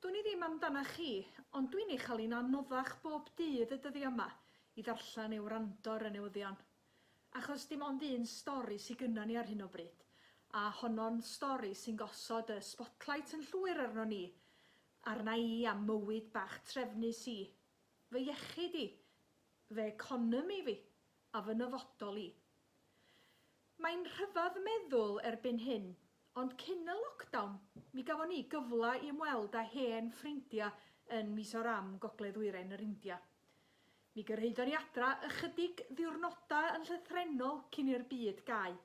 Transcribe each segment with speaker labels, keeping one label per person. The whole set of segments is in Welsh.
Speaker 1: Dwn i ddim amdanach chi, ond dwi'n ei chael hi'n anoddach bob dydd y dyddiau yma i ddarllen neu wrando ar y newyddion. Achos dim ond un stori sy gynna ni ar hyn o bryd, a honno'n stori sy'n gosod y spotlight yn llwyr arnon ni, arna i a'm mywyd bach trefnus i, fy iechyd i, fy economi fi a fy nyfodol i. Mae'n rhyfedd meddwl erbyn hyn, ond cyn y lockdown mi gafon ni gyfle i ymweld â hen ffrindia yn Mizoram, Gogledd Ddwyrain yr India. Mi gyrhaeddon ni adra ychydig ddiwrnoda yn llythrennol cyn i'r byd gau.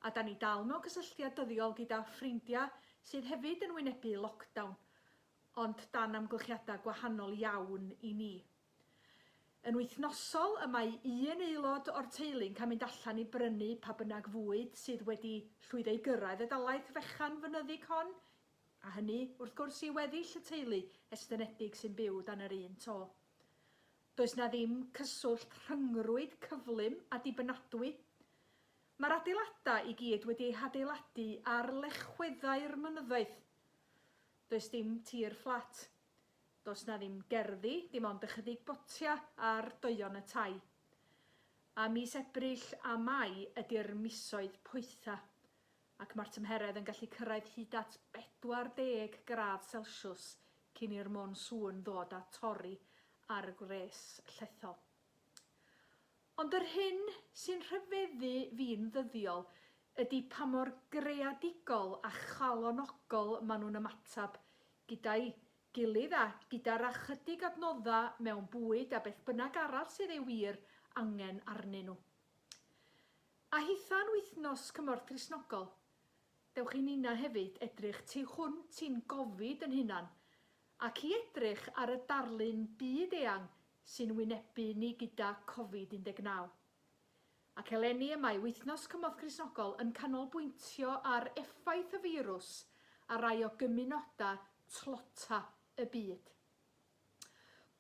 Speaker 1: A 'dan ni dal mewn cysylltiad dyddiol gyda ffrindia sydd hefyd yn wynebu lockdown, ond dan amgylchiada gwahanol iawn i ni. Yn wythnosol, y mae un aelod o'r teulu'n cael mynd allan i brynu pa bynnag fwyd sydd wedi llwyddo i gyrraedd y dalaith fechan fynyddig hon, a hynny, wrth gwrs, i weddill y teulu estynedig sy'n byw dan yr un to. Does 'na ddim cyswllt rhyngrwyd cyflym a dibynadwy. Mae'r adeiladau i gyd wedi eu hadeiladu ar lechweddau'r mynyddoedd. Does dim tir fflat, Does 'na ddim gerddi, dim ond ychydig botia ar doeon y tai. A mis Ebrill a Mai ydi'r misoedd poetha, ac ma'r tymheredd yn gallu cyrraedd hyd at 40 gradd selsiws cyn i'r monsŵn ddod a torri ar y gwres llethol. Ond yr hyn sy'n rhyfeddu fi'n ddyddiol ydi pa mor greadigol a chalonogol maen nhw'n ymateb gyda'i gilydd a gyda'r ychydig adnoddau mewn bwyd a beth bynnag arall sydd ei wir angen arnyn nhw. A hitha'n wythnos cymorth Cristnogol, dewch i ninna hefyd edrych tu hwnt i'n gofid yn hunan ac i edrych ar y darlun byd-eang sy'n wynebu ni gyda Covid 19. Ac eleni y mae Wythnos Cymorth Cristnogol yn canolbwyntio ar effaith y firws ar rai o gymunodau tlota y byd.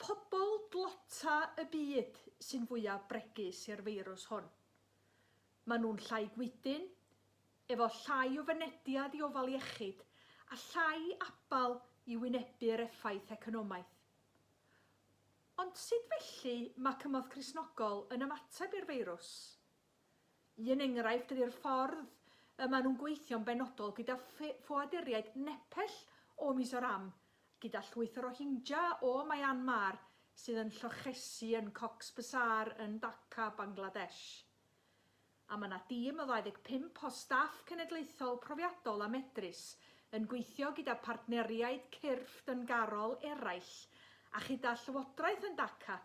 Speaker 1: Pobl dlota y byd sy'n fwyaf bregus i'r feirws hwn. Mae nhw'n llai gwydyn, efo llai o fynediad i ofal iechyd a llai abal i wynebu'r effaith economaidd, Ond sut felly mae cymorth Cristnogol yn ymateb i'r feirws? Un enghraifft ydy'r ffordd y maen nhw'n gweithio'n benodol gyda ffoaduriaid Nepell o Mizoram, gyda llwyth o Rohingya o Myanmar sydd yn llochesi yn Cox's Bazar yn Dhaka, Bangladesh. a mae yna dîm o 25 o staff cenedlaethol profiadol a medrus yn gweithio gyda phartneriaid cyrff dyngarol eraill a chyda Llywodraeth yn Dhaka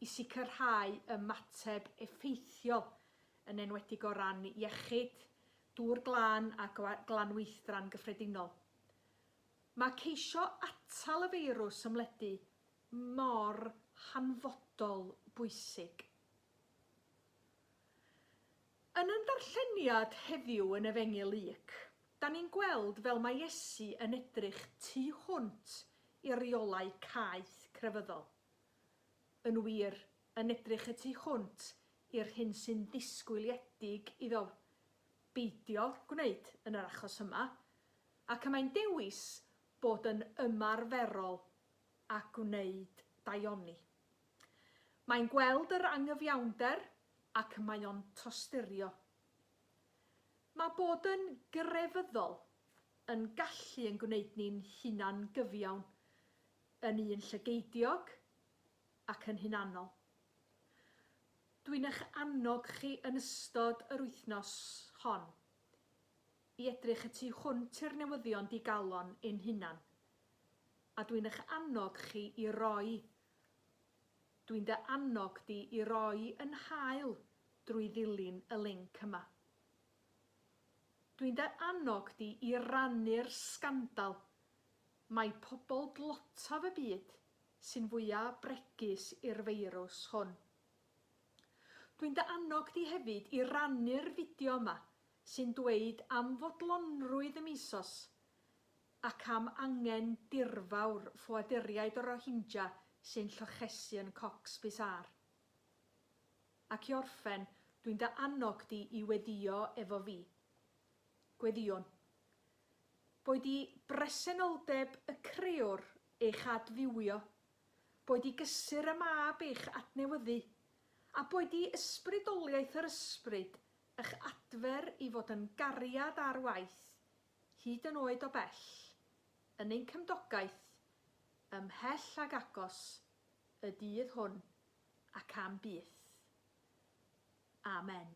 Speaker 1: i sicrhau ymateb effeithiol, yn enwedig o ran iechyd, dŵr glân a glanweithdran gyffredinol. Mae ceisio atal y feirws ymledu mor hanfodol bwysig. Yn ein darlleniad heddiw yn Efengyl Luc, da ni'n gweld fel mae Iesu yn edrych tu hwnt i reolau caeth crefyddol. Yn wir, yn edrych y tu hwnt i'r hyn sy'n ddisgwyliedig iddo beidio gwneud yn yr achos yma, ac y mae'n dewis bod yn ymarferol a gwneud daioni. Mae'n gweld yr angyfiawnder ac mae o'n tosturio. Mae bod yn grefyddol yn gallu yn gwneud ni'n hunan gyfiawn, yn un llygeidiog ac yn hunanol. Dwi'n eich annog chi yn ystod yr wythnos hon i edrych y tu hwnt i'r newyddion digalon ein hunan, A dwi'n eich annog chi i roi, dwi'n dy annog di i roi yn hael drwy ddilyn y linc yma. Dwi'n dy annog di i rannu'r sgandal mai pobl dlotaf y byd sy'n fwya' bregus i'r feirws hwn. Dwi'n dy annog di hefyd i rannu'r fideo yma sy'n dweud am fodlonrwydd y misos ac am angen dirfawr ffoaduriaid o Rohingya sy'n llochesu yn Cox's Bazar. Ac i orffen, dwi'n dy annog di i weddïo efo fi. Gweddïwn. Boed i bresenoldeb y creor eich adfywio, boed i gysur y mab eich adnewyddu, a boed i ysbrydoliaeth yr ysbryd ych adfer i fod yn gariad ar waith hyd yn oed o bell, yn ein cymdogaeth, ymhell ag agos, y dydd hwn, ac am byth. Amen.